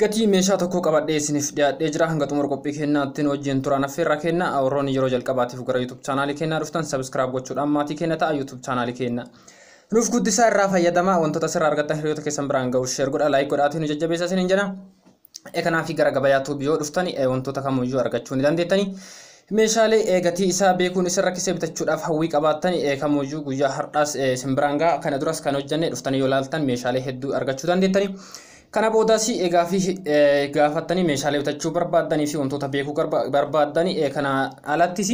Gatii meeshaa tokkoo qabadhee isiniif dhiyaadhee jira. Hanga xumura qophii keenyaatti nu wajjin turaan affeerraa kenna. Warroonni yeroo jalqabaatiif gara YouTube chaanaalii keenyaa dhuftan subscribe gochuudhaan maatii keenya ta'a YouTube chaanaalii keenya. Nuuf guddisaa irraa fayyadamaa wantoota asirraa argattan hiriyoota keessan biraan ga'u share godha like godhaatii nu jajjabeessa isiniin jedha. E kanaaf gara gabayaa tuubii yoo dhuftani e wantoota kamiyyuu argachuu ni dandeettani. Meeshaalee e gatii isaa beekuun isin rakkisee bitachuudhaaf hawwii qabaattani e kamiyyuu guyyaa har'aas e isin biraan ga'a. Kana duras kan hojjenne dhuftanii yoo ilaaltan meeshaalee hedduu argachuu dandeettani. Kana boodas gaaffii gaafattanii meeshaalee bitachuu barbaaddanii fi wantoota beekuu barbaaddan kana alattis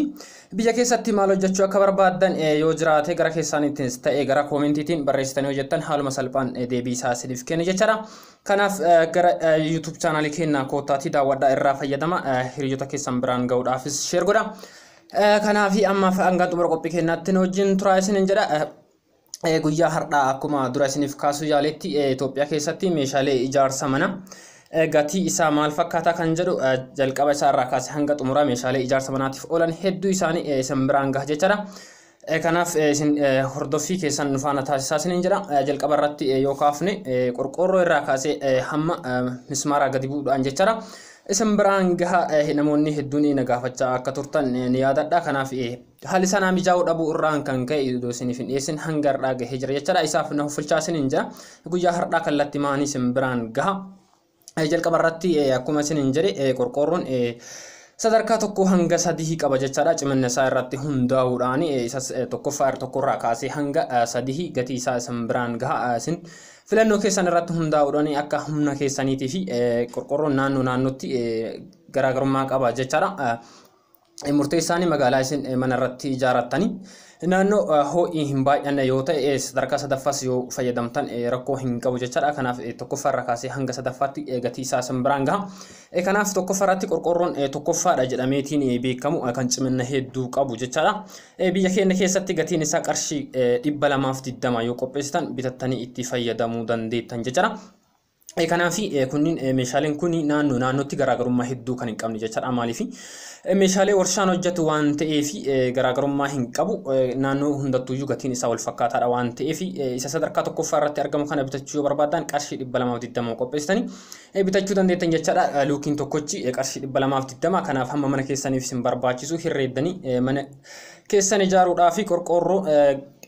biyya keessatti maal hojjechuu akka barbaaddan yoo jiraate gara keessaanittis ta'e gara koomentiitiin barreessitanii hojjettan haaluma salphaan deebii isaa isiniif kenna jechaadha. Kanaaf gara YouTube chaanaalii keenya koottaatii daawwadhaa irraa fayyadama hiriyoota keessan biraan ga'uudhaafis sheer godha. Kanaaf ammaaf hanga xumura qophii keenyaatti nu wajjin turaa isiniin jedha. Eh, guyyaa har'aa akkuma dura isiniif kaasuu yaaletti eh, Itoophiyaa keessatti meeshaalee ijaarsa mana eh, gatii isaa maal fakkaataa kan jedhu eh, jalqaba isaa irraa kaasee hanga xumuraa meeshaalee ijaarsa manaatiif oolan hedduu isaanii eh, isin biraan gaha jechaadha. Eh, Kanaaf eh, isin eh, hordoffii keessan nu faana taasisaa isiniin jedha. Eh, Jalqaba irratti eh, yoo kaafne eh, qorqoorroo irraa kaasee eh, hamma eh, mismaaraa gadi bu'uudhaan jechaadha. Isin biraan gaha eh, namoonni hedduun na gaafachaa akka turtan eh, ni yaadadha. Kanaaf eh, Haalli isaa naa mijaa'uu dhabuu irraan kan ka'e idoo isiniif hin dhiyeessin hanga har'aa gahee jira jechaadha. Isaaf na huffilchaa isiniin jira. Guyyaa har'aa kallatti maanii isin biraan gaha. Jalqaba irratti akkuma isiniin jedhe qorqoorroon sadarkaa tokko hanga sadii qaba jechaadha. Ciminna isaa irratti hundaa'uudhaan isas tokkoffaa irra tokkorraa kaasee hanga sadii gatii isaa isin biraan gaha. Isin filannoo keessan irratti hundaa'uudhaan akka humna keessaniitii fi qorqoorroon naannoo naannootti garaagarummaa qaba jechaadha. murteessaanii magaalaa isin mana irratti ijaarattanii naannoo ho'i hin baay'anne yoo ta'e sadarkaa sadaffaas yoo fayyadamtan rakkoo hin qabu jechaadha. Kanaaf tokkoffaa irraa kaasee hanga sadaffaatti gatii isaa isin biraan gaha. Kanaaf tokkoffaa irratti qorqoorroon tokkoffaadha jedhameetiin beekamu kan cimina hedduu qabu jechaadha. Biyya keenya keessatti gatiin isaa qarshii dhibba lamaaf digdama yoo qopheessitan bitattanii itti fayyadamuu dandeettan jechaadha. Kanaaf kunniin meeshaaleen kun naannoo naannootti garaagarummaa hedduu kan hin qabne jechaadha. Maaliif meeshaalee warshaan hojjetu waan ta'eef garaagarummaa hin qabu. Naannoo hundattuuyyuu gatiin isaa wal fakkaataadha waan ta'eef isa sadarkaa tokkoffaa irratti argamu kana bitachuu yoo barbaadan qarshii dhibba lamaaf digdama qopheessitanii bitachuu dandeettan jechaadha. Luukiin tokkochi qarshii dhibba lamaaf digdama kanaaf hamma mana keessaniif isin barbaachisu hirreeddanii mana keessan ijaaruudhaa fi qorqoorroo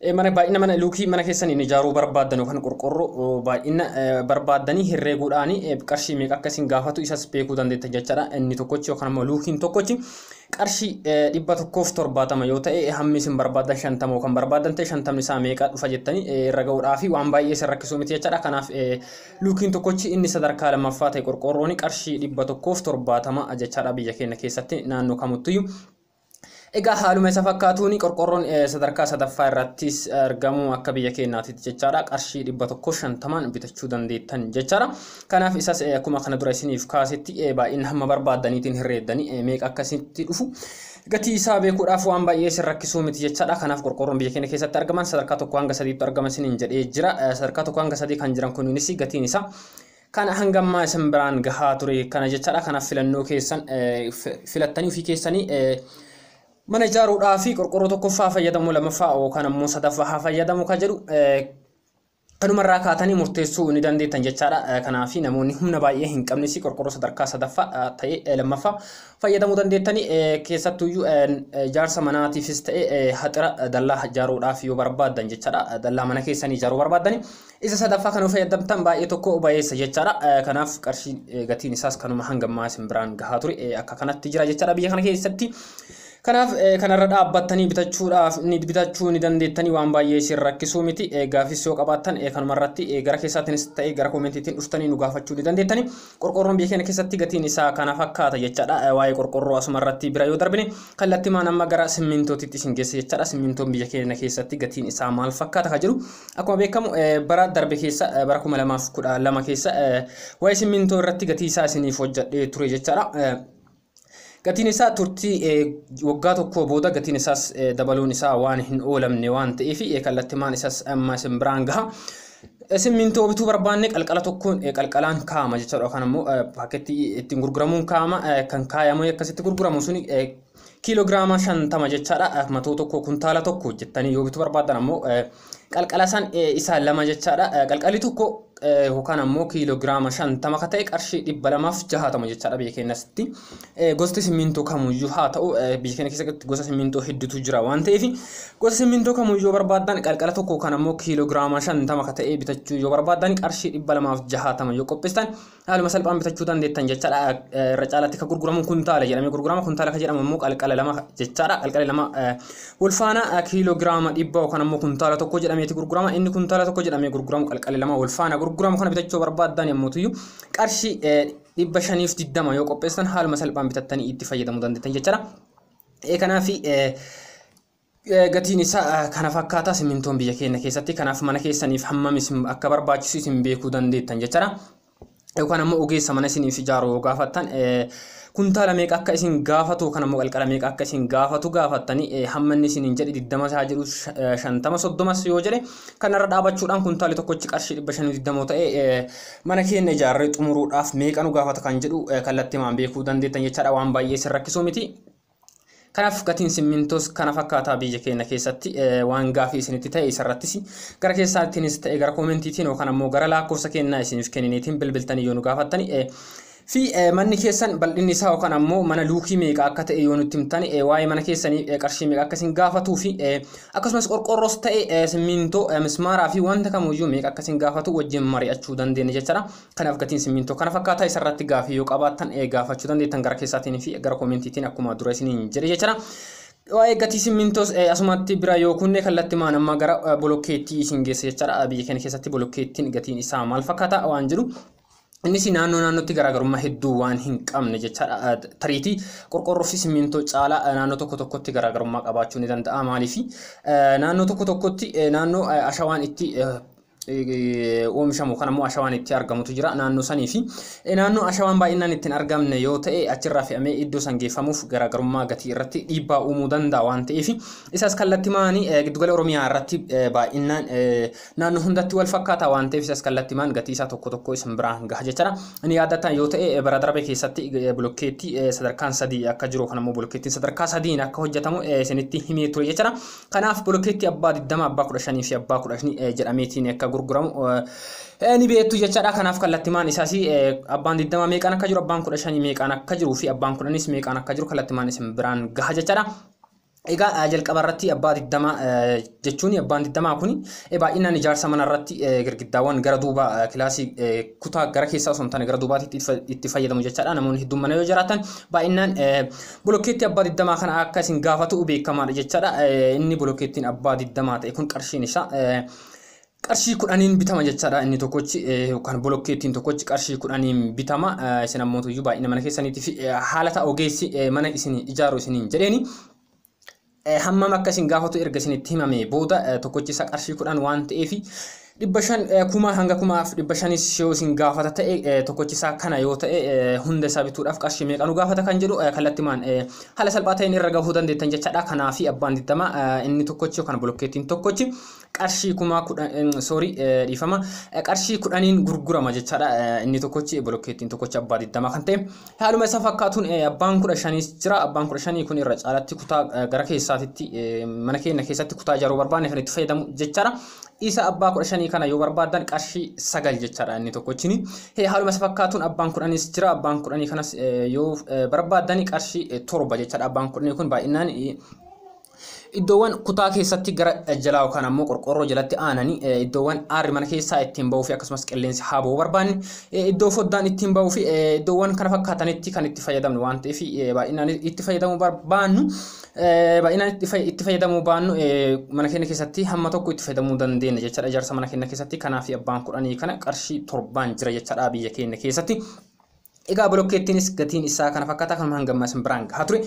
E. Mana baay'ina mana luukii mana keessaniin ijaaruu barbaaddan yookaan qorqorroo baay'ina barbaaddanii herreeguudhaan qarshii meeqa akka isin gaafatu isas beekuu dandeettan jechaadha. Inni tokkochi yookaan immoo luukiin tokkochi qarshii dhibba tokkoof torbaatama yoo ta'e hammi isin barbaaddan shantama yookaan barbaaddan ta'e shantamni isaa meeqa dhufa jettanii irra ga'uudhaa fi waan baay'ee isin rakkisuu miti jechaadha. Kanaaf luukiin tokkochi inni sadarkaa lammaffaa ta'e qorqorroon qarshii dhibba tokkoof torbaatama jechaadha biyya keenya keessatti naannoo kamuttuyyuu. Egaa haaluma isa fakkaatuun qorqorroon sadarkaa sadaffaa irrattis argamu akka biyya keenyaatitti jechaadha qarshii dhibba tokko shantamaan bitachuu dandeettan jechaadha. Kanaaf isas akkuma kana dura isiniif kaasetti baay'ina hamma barbaaddaniitiin hirreeddanii meeqa akka isinitti dhufu gatii isaa beekuudhaaf waan baay'ee isin rakkisuu miti jechaadha. Kanaaf qorqorroon biyya keenya keessatti argaman sadarkaa tokko hanga sadiitti argama isiniin jedhee jira. Sadarkaa tokko hanga sadii kan jiran kunis gatiin isaa Kana hanga ammaa isin biraan gahaa ture kana jechaadha. Kanaaf filannoo keessan filattanii ofii keessanii mana ijaaruudhaa fi qorqorroo tokkoffaa fayyadamu lamaffaa yookaan ammoo sadaffaa haa fayyadamu kan jedhu kanumarraa kaatanii murteessuu ni dandeettan jechaadha. Kanaaf namoonni humna baay'ee hin qabnes qorqorroo sadarkaa sadaffaa ta'ee lammaffaa fayyadamuu dandeettanii keessattuyyuu ijaarsa manaatiifis ta'ee haxira dallaa ijaaruudhaaf yoo barbaaddan jechaadha. Dallaa mana keessanii ijaaruu barbaaddanii Isa sadaffaa kan fayyadamtan baay'ee tokko bayeessa jechaadha. Kanaaf qarshiin gatiin isaas kanuma hanga ammaa isin biraan gahaa ture akka kanatti jira jechaadha biyya kana keessatti. Kanaaf kanarra dhaabbattanii bitachuudhaaf ni bitachuu ni dandeettanii waan baay'ee isin rakkisuu miti. Gaafis yoo qabaattan kanuma irratti gara keessaatiinis ta'e gara koomentiitiin dhuftanii nu gaafachuu ni dandeettanii. Qorqoorroon biyya keenya keessatti gatiin isaa kana fakkaata jechaadha. Waa'ee qorqoorroo asuma irratti bira yoo darbine kallattimaan amma gara simmintootitti isin geessa jechaadha. Simmintoon biyya keenya keessatti gatiin isaa maal fakkaata kan jedhu akkuma beekamu bara darbe keessa bara 2012 keessa waa'ee simmintoo irratti gatii isaa isiniif hojjedhee ture jechaadha. Gatiin isaa turtii waggaa tokkoo booda gatiin isaas dabaluun isaa waan hin oolamne waan ta'eef kallattimaan isas amma isin biraan gaha. Simmintoo bituu barbaanne qalqala tokkoon qalqalaan kaa'ama jechuudha yookaan ammoo paakkeetti ittiin gurguramuun kaa'ama kan kaayamee akkasitti gurguramu suni kiiloogiraama shantama jechaadha matoo tokko kuntaala tokko jettanii yoo bituu barbaadan ammoo Qalqala san isa lama jechaadha. Qalqalli tokko yookaan ammoo kiiloogiraama shantama ka ta'e qarshii dhibba lamaaf jahaatama jechaadha biyya keenyatti. Gosti simmintoo kamuyyuu haa ta'u biyya keenya keessatti gosa simmintoo hedduutu jira waan ta'eef gosa simmintoo kamuyyuu yoo barbaaddan qalqala tokko yookaan ammoo kiiloogiraama shantama ka ta'e bitachuu yoo barbaaddan qarshii dhibba lamaaf jahaatama yoo qopheessitan haaluma salphaan bitachuu dandeettan jechaadha irra caalaatti kan gurguramu kuntaala jedhamee gurgurama kuntaala kan jedhamu immoo qalqala lama jechaadha qalqala lama ulfaana kiiloogiraama dhibba yookaan immoo kuntaala tokko jedhameeti gurgurama inni kuntaala tokko jedhamee gurguramu qalqala lama ulfaana gurguramu kana bitachuu barbaaddan yommuutuyyu qarshii dhibba shaniif diddama yoo qopheessan haaluma salphaan bitattanii itti fayyadamuu dandeettan jechaadha kanaaf Gatiin isaa kana fakkaata simintoon biyya keenya keessatti kanaaf mana keessaniif hammam isin akka barbaachisu isin beekuu dandeettan jechaadha. Yookaan ammoo ogeessa mana isiniif ijaaru yoo gaafattan kuntaala meeqa akka isin gaafatu yookaan ammoo qalqala meeqa akka isin gaafatu gaafattanii hamma inni isiniin jedhe 20 isaa jedhu 50 30 yoo jedhe kanarra dhaabachuudhaan kuntaali tokkochi qarshii 520 ta'ee mana keenya ijaarree xumuruudhaaf meeqa nu gaafata kan jedhu kallattimaan beekuu dandeettan jechaadha waan baay'ee isin rakkisuu miti. Kanaaf gatiin simmintoos kana fakkaataa biyya keenya keessatti waan gaafii isinitti ta'e isarrattis gara keessaattiinis ta'e gara koomentiitiin yookaan ammoo gara lakkoofsa kennaa isiniif kenniniitiin bilbiltanii yoo nu gaafattani fi manni keessan bal'inni isaa yookaan ammoo mana luukii meeqa akka ta'e yoo nutti himtani waa'ee mana keessanii qarshii meeqa akka isin gaafatuu fi akkasumas qorqoorroos ta'e simmintoo mismaaraa fi wanta kamuyyuu meeqa akka isin gaafatu wajjin mari'achuu dandeenya jechaadha. Kanaaf gatiin simmiintoo kana fakkaata. Isa irratti gaafii yoo qabaattan gaafachuu dandeettan gara keessaatiin fi gara koomentiitiin akkuma dura isiniin jedhe jechuudha. Waa'ee gatii simmiintoos asumatti bira yoo kunne kallattimaan amma gara bolokkeettii isin geessa jechuudha. Biyya keenya keessatti bolokkeettiin gatiin isaa maal fakkaata waan jedhu Innis naannoo naannootti garaagarummaa hedduu waan hin qabne jechaadha. Tariitii qorqorroo fi simmiintoo caalaa naannoo tokko tokkotti garaagarummaa qabaachuu ni danda'a. Maaliif naannoo tokko tokkotti naannoo ashawaan itti oomishamu kan ammoo ashawaan itti argamutu jira naannoo sanii fi naannoo ashawaan baay'inaan ittiin argamne yoo ta'e achirraa fe'amee iddoo san geeffamuuf garaagarummaa gatii irratti dhiibbaa uumuu danda'a waan ta'eef isas kallattimaan giddugala oromiyaa irratti baay'inaan naannoo hundatti wal fakkaata waan ta'eef isas kallattimaan gatii isaa tokko tokko isin biraan gaha jechaadha. Inni yaadataan yoo ta'e bara darbe keessatti bulokkeetti sadarkaan sadii akka jiru kan ammoo bulokkeettiin sadarkaa sadiin akka hojjetamu isinitti himee ture jechaadha. Kanaaf bolokeetti abbaa 20, abbaa 15 fi abbaa 10 eh, jedhameetiin akka gurguramu eh, eh, ni beektu jechaadha. Kanaaf kallattimaan isaas eh, abbaan 20 meeqaan akka jiru, abbaan 15 meeqaan akka jiruu fi abbaan 10nis meeqaan akka jiru kallattimaan isin biraan gaha jechaadha. Egaa eh, jalqaba irratti abbaa 20 eh, jechuun abbaan 20 kun eh, baay'inaan ijaarsa mana irratti eh, girgiddaawwan gara duuba eh, kilaasii eh, kutaa gara keessaa osoo hin taane gara duubaatti itti fa- itti fayyadamu jechaadha. Namoonni hedduun mana yoo jiraatan baay'inaan eh, Bolokkeettii abbaa digdamaa kana akka isin gaafatu beekamaadha jechaadha. Inni bolokkeettiin abbaa digdamaa ta'e kun qarshiin isaa qarshii kudhaniin bitama jechaadha. Inni tokkochi yookaan bolokkeettiin tokkochi qarshii kudhaniin bitama. Isin ammoo tuyyuu baay'ina mana keessaniitii fi haala ta'a ogeessi mana isin ijaaru isiniin jedheeni. Hammam akka isin gaafatu erga isinitti himamee booda tokkochi isaa qarshii kudhan waan ta'eef dhibba shan kuma hanga kumaaf dhibba shanis yoo isin gaafata ta'e tokkochi isaa kana yoo ta'e hunda isaa bituudhaaf qarshii meeqa nu gaafata kan jedhu kallattimaan haala salphaa ta'een irra gahuu dandeettan jechaadha. Kanaafi abbaan digdama inni tokkochi yookaan bolokkeettiin tokkochi qarshii kumaa kudhan sorry dhiifama qarshii kudhaniin gurgurama jechaadha inni tokkochi bolokkeettiin tokkochi abbaa digdama kan ta'e haaluma isa fakkaatuun abbaan kudha shaniis jira abbaan kudha shanii kun irra caalatti kutaa gara keessaatitti mana keenya keessatti kutaa ijaaruu barbaanne kan itti fayyadamu jechaadha isa abbaa kudha shanii kana yoo barbaadan qarshii sagal jechaadha inni tokkochini haaluma isa fakkaatuun abbaan kudhaniis jira abbaan kudhanii kanas yoo barbaadan qarshii torba jechaadha abbaan kudhanii kun baay'inaan Iddoowwan kutaa keessatti gara jalaa yookaan ammoo qorqoorroo jalatti aananii eh, iddoowwan aarri mana keessaa ittiin ba'uu fi akkasumas qilleensi haa ba'uu barbaanne eh, iddoo foddaan ittiin ba'uu fi eh, iddoowwan kana fakkaatanitti kan itti fayyadamnu waan ta'eef eh, baay'inaan itti fayyadamuu barbaannu eh, baay'inaan itti fay- itti fayyadamuu baannu eh, mana keenya keessatti hamma tokko itti fayyadamuu dandeenya jechaadha ijaarsa mana keenya keessatti kanaaf abbaan kudhanii kana qarshii torbaan jira jechaadha biyya keenya keessatti. Egaa bilokkeettiinis gatiin isaa kana fakkaata kanuma hanga ammaa isin biraan gahaa ture.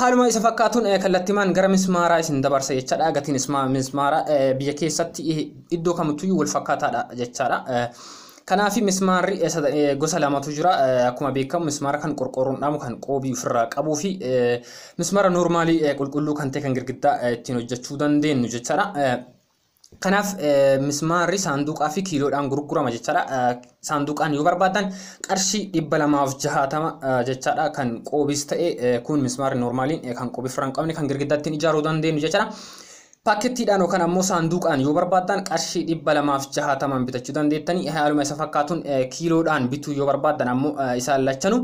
Haaluma isa fakkaatuun kallattimaan gara mismaaraa isin dabarsa jechaadha. Gatiin mismaaraa biyya keessatti iddoo kamittuu wal fakkaataadha jechaadha. Kanaaf mismaarri gosa lamatu jira. Akkuma beekamu mismaara kan qorqoorroon dhaamu kan qoobii ofirraa qabuu fi mismaara noormaalii qulqulluu kan ta'e kan girgiddaa ittiin hojjechuu dandeenyu jechaadha. Kanaaf mismaarri saanduqaa fi kiiloodhaan gurgurama jechaadha. Saanduqaan yoo barbaadan qarshii dhibba lamaaf jahaatama jechaadha kan qoobis ta'e kun mismaarri noormaaliin kan qoobii firra hin qabne kan girgiddaa ittiin ijaaruu dandeenyu jechaadha. Paakettiidhaan yookaan ammoo saanduqaan yoo barbaadan qarshii dhibba lamaaf jahaatamaan bitachuu dandeettanii haaluma isa fakkaatuun kiiloodhaan bituu yoo barbaadan ammoo isaan lachanu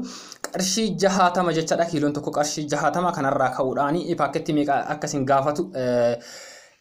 qarshii jahaatama jechaadha kiiloon tokko qarshii jahaatama kanarraa ka'uudhaan paakettii meeqa akkasin gaafatu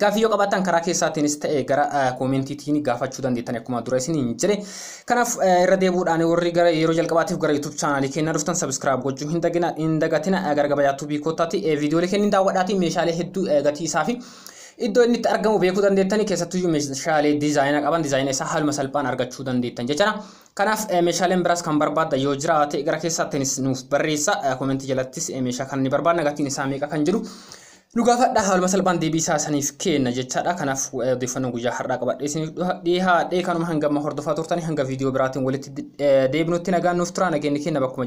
Gaaffii yoo qabaattan karaa keessaatiinis ta'e gara koomentiitiin gaafachuu dandeettan akkuma dura isin hin jedhe. Kanaaf irra deebuudhaan warri gara yeroo jalqabaatiif gara YouTube chaanaalii keenya dhuftan sabiskiraayib gochuu hin dagina hin dagatina gara gabayaa tuubii koottaati viidiyoolee kennin daawwadhaatii meeshaalee hedduu gatii isaa fi iddoo inni itti argamu beekuu dandeettanii keessattuu meeshaalee diizaayina qaban diizaayina isaa haaluma salphaan argachuu dandeettan jechuudha. Kanaaf meeshaaleen biraas kan barbaadda yoo jiraate gara keessaatiinis nuuf barreessa koomentii jalattis meeshaa kan ni barbaadna gatiin isaa meeqa kan jedhu Nu gaafadha haaluma salphaan deebii isaa isiniif keenna jechaadha. Kanaaf odeeffannoo guyyaa har'aa qabadhee isiniif dhihaadhee kanuma hangama hordofaa turtanii hanga viidiyoo biraatiin walitti deebinutti nagaan nuuf turaa nageenyi keenya bakkuma